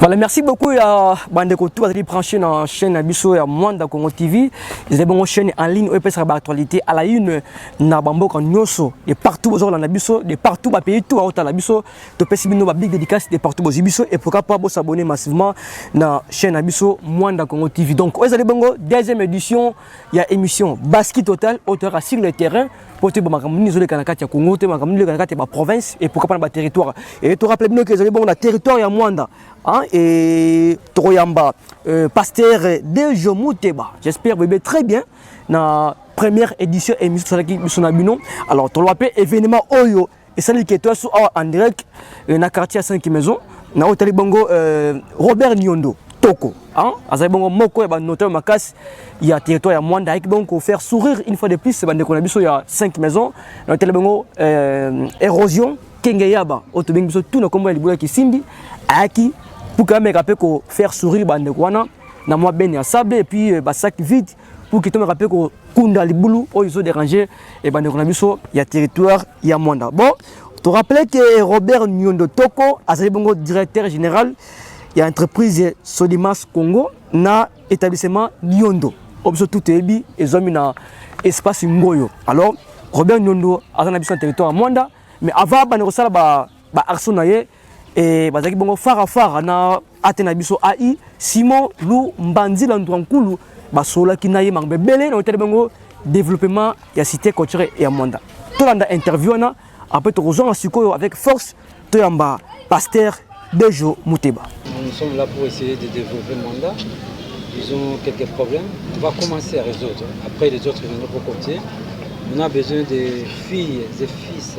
Voilà, merci beaucoup ya bandeko tout bazali branché na chaîne na biso ya Mwanda Congo TV. Ezali bongo chaîne en ligne oyo epesaka ba actualité à la une na bamboka nyonso de partout bozolanda biso de partout ba pays tout aotala biso topesi bino ba big dédicace de partout bozi biso et pourquoi pas bosabonner massivement na chaîne na biso Mwanda Congo TV. Donc oyo ezali bongo deuxième édition ya émission Basket Total oyo toyaka sur le terrain mpo toyeba makambo nini ezoleka na kati ya congo toyeba makambo nini ezoleka na kati ya baprovince et pourquoi pas na baterritoire e torappele bino ke ezali bongo na territoire ya mwanda e tokoyamba euh, pasteur dejo muteba j'espère boyebe très bien na première édition émission tosalaki biso na bino alors toloba mpe événement oyo esali keto ya su awa andirek eh, na quartier ya 5 maison na oyo etali bongo eh, robert niondo toko hein? azali bongo moko ya banotaire makasi ya territoire ya mwanda ayaki bongo kofaire sourire une fois de plus bandeko na biso ya 5 maison na otali bongo euh, érosion kenge yaba oyo tobengi biso tu na nkombo ya libula ya kisimbi ayaki puka ameka mpe kofaire sourire bandeko wana na mwa bene ya sable epuis euh, basac vide pour que tomeka mpe kokunda libulu oyo ezo déranger ebandeko na biso ya territoire ya mwanda bon to rappeler que robert nyondo toko azali bongo directeur général ya entreprise sodimas congo na établissement nyondo oyo biso tout toyebi ezwami na espace ngoyo alors robert nyondo aza na biso na territoire ya mwanda mais avant abanda kosala ba ba arso na ye e, bazalaki bongo fara fara na ate na biso ai simon lu mbanzila ndwankulu basololaki na ye makambo ebele na otali bango développement ya cité culture ya mwanda tolanda interview wana apres tokozonga sikoyo avec force toyamba pasteur dejo muteba nous sommes là pour essayer de développer mwanda ils ont quelques problèmes on va commencer à résoudre après les autres ils vont nous on a besoin des filles et fils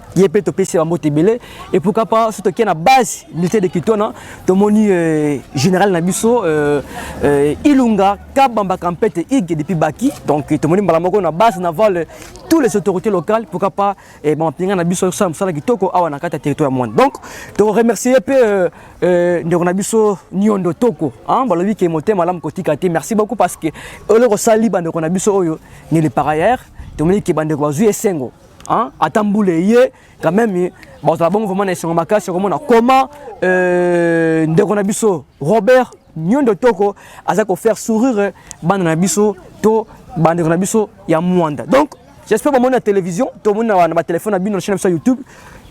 ye mpe topesi bambote ebele epuka mpa so tokie na base militaire de kitona tomoni euh, général na biso euh, euh, ilunga kabamba kampete ig depuis baki donc tomoni mbala moko na base navale tous les autorités locales pourquoi pas eh, bamampinga na biso ekosala mosala kitoko awa na kati ya territoire ya mwana donc tokoremercie mpe euh, euh, ndeko na biso niondo toko balobi ke motema malamu kotika te merci beaucoup parce que eloko osali bandeko na biso oyo nele par ailleurs tomoni ke bandeko bazwi esengo Hein? Ata mbula eye quand même bazala bongo vraiment na esengo makasi okomona comment euh, ndeko na biso Robert Nyondo Toko aza ko faire sourire bana na biso to bandeko na biso ya Mwanda. Donc j'espère bamoni na télévision to moni na ba téléphone na bino na chaîne na YouTube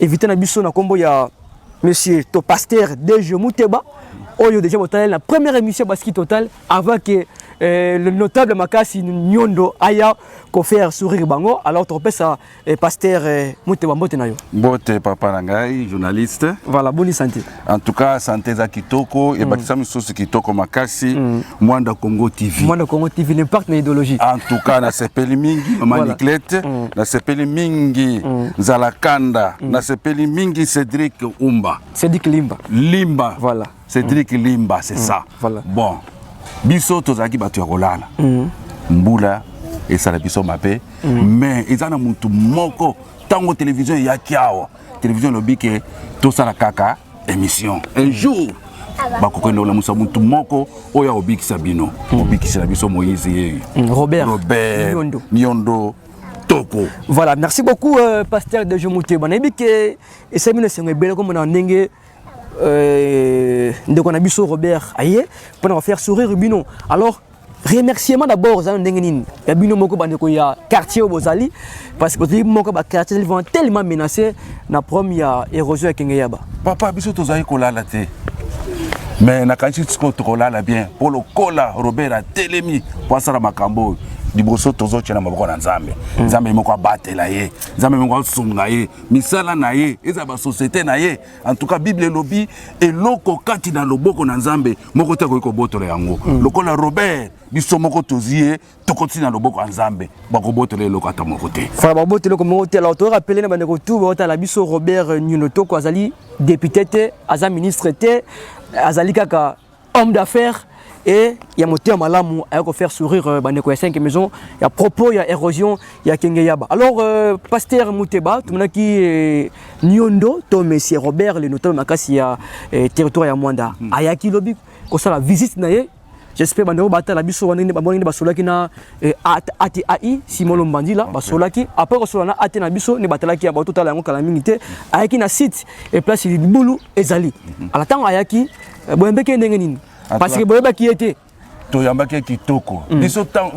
éviter na biso na kombo ya monsieur to pasteur Deje Muteba oyo déjà botaleli na première émission Baski Total Avant que euh, le notable Makasi Nyondo aya ko faire sourire bango, alors topesa euh, pasteur euh, Mutewa mbote na yo. Mbote papa na ngai journaliste. Voilà, boni santé. En tout cas, santé za kitoko et mm. bakisa misusu kitoko makasi mm. Mwanda Congo TV. Mwanda Congo TV n'impact na idéologie. En tout cas, na sepeli mingi maman voilà. Niclette, mm. na sepeli mingi mm. Zalakanda, mm. na sepeli mingi Cédric Umba. Cédric Limba. Limba. Voilà. Cedric mm. Limba c'est mm. ça. Voilà. Bon. Biso tozalaki bato ya kolala. Mm. Mbula esala biso mabe mm. mais eza na mutu moko tango télévision eyaki awa télévision elobi ke tosala kaka émission un mm. jour bakokende kolamusa mutu moko oyo akobikisa bino mm. obikisela biso moïse yeyo mm. robert, robert niondo, niondo kitoko voilà merci beaucoup euh, pasteur de jomouteba nayebi ke esali bino esengo ebele komona ndenge euh, ndeko na biso Robert aye pona ko faire sourire bino alors remerciement d'abord ozali na ndenge nini ya bino moko bandeko ya quartier oyo bozali parce que bozali moko baquartier ezali vraiment tellement menacé na problème ya érosion ya kenge yaba papa biso tozali kolala te mais nakanisi sikoyo tokolala bien mpo lokola robert atelemi mpo asala makambo oyo liboso tozotya na maboko na nzambe hmm. nzambe moko abatela ye nzambe moko asunga ye misala na ye ezala basosiete na ye antuka bible elobi eloko kati na loboko na nzambe moko te akoki kobotola yango mm. lokola robert biso moko tozi ye tokotisi na loboko ya nzambe bakobotola eloko ata moko te fana babota eloko moko te alors toyoka pele na bandeko tu baotala biso robert nyuno toko azali depute te aza ministre te azali kaka homme d'affaires et ya motema malamu ayako faire sourire euh, bandeko ya 5 maison ya propos ya érosion ya kenge yaba alors euh, pasteur muteba tumonaki euh, niondo to monsieur robert le notable makasi ya euh, territoire ya mwanda mm. ayaki lobi kosala visite na ye j'espère bandeko batala biso wana bamoni nde basolaki na eh, ati ai simolo mbandila basolaki après kosola na ate na biso nde batalaki ya bato tala yango kala mingi te ayaki na site eplace libulu ezali mm-hmm. ala ntango ayaki Eh, boyambaki ye ndenge nini parceke boyebaki ye te toyambaki ye kitoko mm.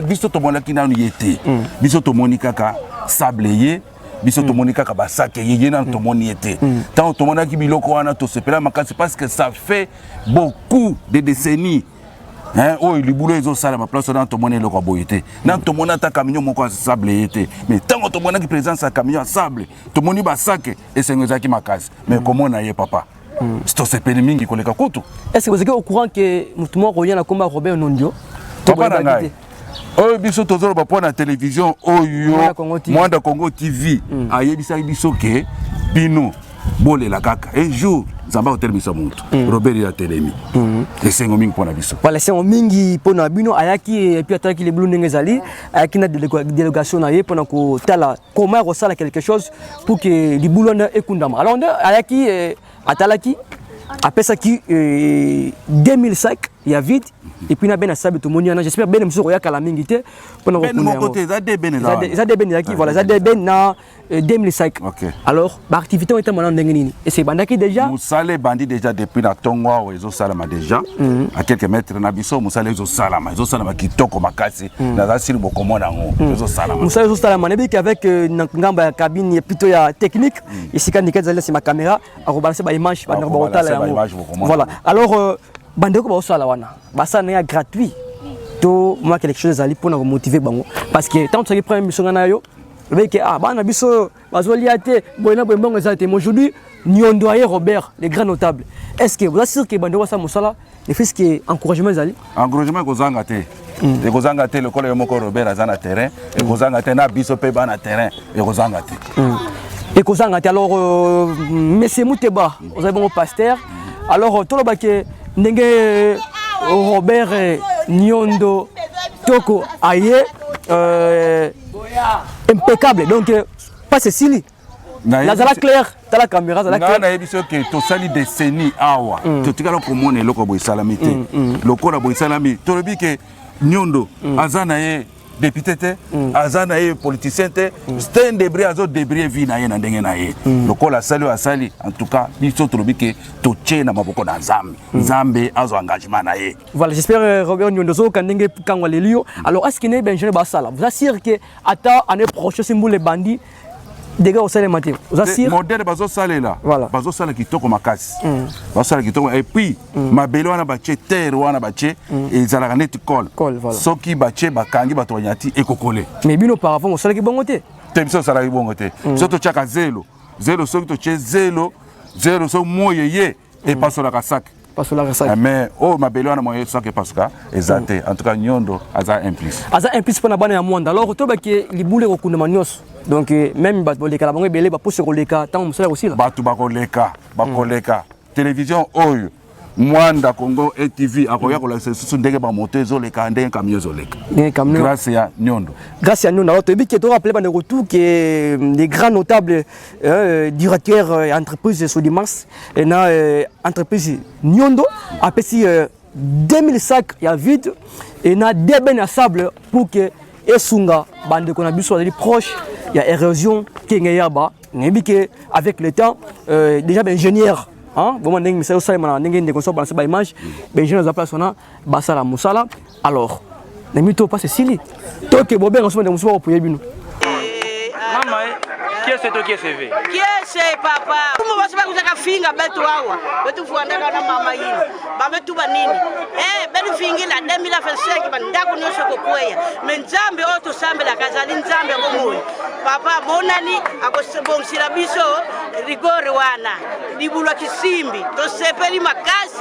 biso tomonaki nanu ye te mm. biso tomoni kaka sable ye biso mm. tomoni kaka basake ye ye nanu tomoni ye te ntango tomonaki biloko wana tosepela makasi parce que ça fait beaucoup de décennies oyo libulu ezosalama place wana tomoni eloko ya boye te nanu tomoni ata camion moko ya sable ye te mais ntango tomonaki présence ya camion ya sable tomoni basake esengo ezalaki makasi mais komona ye papa Mm. tosepeli mingi koleka kutu ese ozalaki au courant ke motu moko akoya na komba robert nondio papa na ngai oyo biso tozoloba mpo na televizio oyo mwanda congo tv mm. ayebisaki biso ke bino bolela kaka un jour nzambe akotelemisa motu mm. robert ye atelemi mm. esengo mingi mpo na biso wala esengo mingi mpo na bino ayaki epuis atalaki lebulu ndenge ezali ayaki na delegation na ye mpo na kotala comment akosala quelque chose pour que libulu wana ekundama alors nde ayaki eh, atalaki apesaki 2000 eh, sac ya vide epuis na bene asabi tomoni wana j'espère bene mosusu okoya kala mingi te mpona koeza de bene ezaki voilà eza de bene na 2000 sac alors ba activité oyo etambola ndenge nini ese ebandaki déjà mosala ebandi déjà depuis na ntongo awa ezosalama déjà mm. a quelques mètres na biso mosala ezosalama ezosalama kitoko makasi mm. naza sili bokomona yango mm. ezosalama mosala ezosalama nayebiki avec euh, na ngambo ya cabine ya plutôt ya technique mm. esika ndika ezali na nsima caméra akobalanse ba image bandeko bakotala yango voilà alors euh, bandeko baosala wana basala na ya gratuit to mwa quelque chose ezali mpona komotive bango parce que ntango tozalaki première mission ngai na yo obeki ah bana biso bazolia te boye na boye mbongo eza te aujourd'hui niondo aye robert le grand notable est ce que boza sur ke bando basala mosala le fils ke encouragement ezali encouragement ekozanga te hmm. ekozanga te lokola yo moko robert aza na terrain ekozanga te na biso mpe bana terrain ekozanga te hmm. ekozanga te alors euh, monsieur muteba ozali bongo pasteur alors euh, toloba ke ndenge euh, robert niondo toko aye euh, impeccable donc euh, pasi esili nazala claire tala caméra azala claire na yebi soki tosali décennie awa mm. totikala komona eloko boye esalami te mm, mm. lokola boye esalami tolobi ke nyondo aza na ye député te aza na ye politicien te sten debrie azo debrie vie na ye na ndenge na ye lokola asali oyo asali en tout cas biso tolobi ke totie na maboko na nzambe nzambe azwa engagement na ye Voilà, j'espère euh, Robert Nyondo Zoka ndenge kangwa lelio. Alors, est-ce qu'il n'est Benjamin Bassala Vous assurez que ata année prochaine c'est les bandits dega osala mate oza sir modèle bazo salela voilà. bazo sala kitoko makasi mm. bazo sala kitoko et puis mm. mabele wana batie terre wana batie mm. ezalaka neti col voilà. soki batie bakangi bato banyati ekokole mais bino auparavant osalaki bongo te te biso osalaki bongo te mm. biso totiaka zelo zelo soki totie zelo zelo soki moi eye epasolaka sac pasolaka sac eh, mais oyo oh, mabele wana moye sac epasuka eza te en tout cas nyondo aza implice aza implice mpo na bana ya mwanda alors tobaki libulu ekokundama nyonso donc eh, même bato balekala bango ebele baposo ekoleka ntango mosala ekosila bato bakoleka bakoleka télévision oyo mwanda congo atv akoya kolakisa lisusu ndenge bamoto ezoleka ndenge kamio ezoleka grâce ya nyondo grâce ya nyondo alors toyebi ke torappele bandeko tout ke mm, les grands notables Euh, directeur euh, entreprise Sodimas et na euh, entreprise Nyondo a payé euh, 2000 sacs ya vide et na deux ben à sable pour que esunga bande qu'on a biso les proches il y a érosion qui est yaba nébike avec le temps euh, déjà ben ingénieur hein bon ndenge misala sala mana ndenge ndeko so balancer ba image ben ingénieur za place on a basala musala alors na mito pasi esili toke bobenga soki mosusu bakopuye bino mama eh, kiese to kiese ve kiese papa kumbo basi bakuzaka finga betu awa betu fuandaka na mama yini babetu banini eh beni fingila 2025 bandako nyonso kokweya me nzambe oyo tosambelaka azali nzambe ya bomoi papa monani akobongisila biso rigore wana libulwa kisimbi tosepeli makasi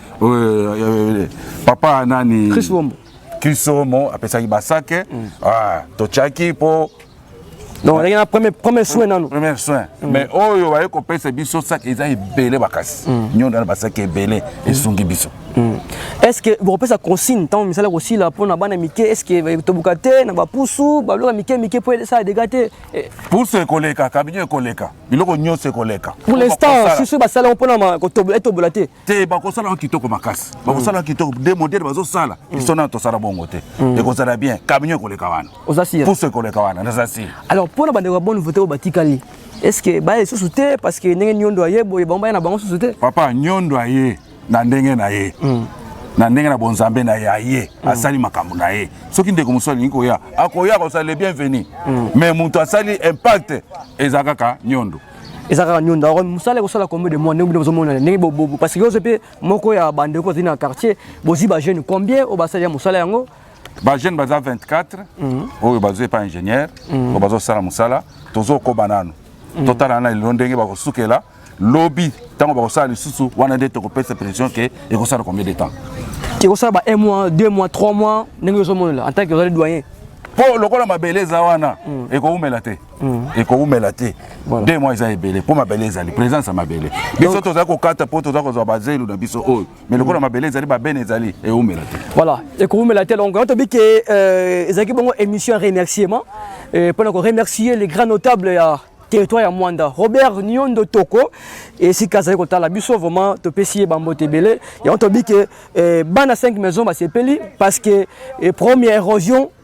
euh, papa nani chris bombo chris bombo apesaki basake mm. ah, totyaki mpo donc azalaki na premier, premier soin nanu premier soin mm. mais oyo baye kopesa biso saki eza ebele makasi mm. nyondo wana basaki ebele mm. esungi biso mm. est ce que bokopesa consigne ntango misala kosila mpo na bana mike est ce que eh, tobuka te na bapusu baloka mike mike mpo esala dega te eh. pusu ekoleka kabinio ekoleka biloko nyonso ekoleka pour l'instant susu basalaki mpo na etobola te te bakosala yango kitoko makasi bakosala yango kitoko de modele bazosala mm. biso nano tosala bongo te mm. ekozala bien camion ekoleka wana puso ekoleka wana naza si alors mpo na bandeko ya bonne vote oyo batikali estce baya lisusu te parce que ndenge nyondo aye boye bango baya na bango susu te papa nyondo aye na ndenge na ye mm. na ndenge na bonzambe na ye aye mm. asali makambo na ye soki ndeko mosusu alingi koya akoya akosalela bienvenu mm. mais moto asali impact eza kaka nyondo eza kaka nionda oko mosala ekosala combien de mois ndenge bino bozomonana ndenge bobobo parce que ozo mpe moko ya bandeko ozali na quartier bozwi bajeune combien oyo basali ya mosala yango bajeune baza 24 mhm. oyo bazwi epa ingénieur mhm. oyo bazosala mosala tozokoba nano mhm. totala na lelo ndenge bakosukela lobi ntango bakosala lisusu wana nde tokopesa pression ke ekosala combien de temps ekosala ba 1 mois 2 mois 3 mois ndenge ozomonela en tant que ozali doyen mpo lokola mabele eza wana ekowumela te Mm. ekowumela te de mwa eza ebele mpo mabele ezali présence ya mabele biso tozali kokata mpo toza kozwa bazelu na biso oyo mais lokola mm. mabele ezali babene ezali ewumela te voilà ekowumela te donc tobi ke euh, ezalaki bongo émission ya remerciement euh, mpo na koremercier les grands notables ya territoire ya mwanda robert niondo toko esika azali kotala biso vraiment topesi ye bambote ebele yango tobi ke euh, bana 5 maison basepeli parce que première érosion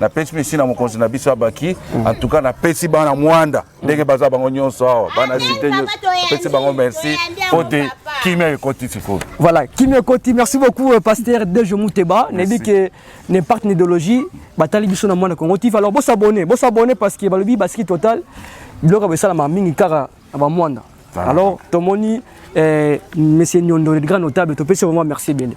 na pesi mesi na mokonzi na biso abaki mm. en tout cas na pesi bana mwanda ndenge baza bango nyonso awa bana site nyonso pesi bango merci po te kimia ekoti sikoyo voilà kimia ekoti merci beaucoup euh, pasteur dejo muteba nayebi ke n'impact n'idéologie batali biso na mwana congo tiv alors bosabone bosabone parce que balobi basiki total biloko ya bosalama mingi kaka na bamwanda ah. alors tomoni eh, monsieur nyondo le grand notable topesi vraiment merci ebele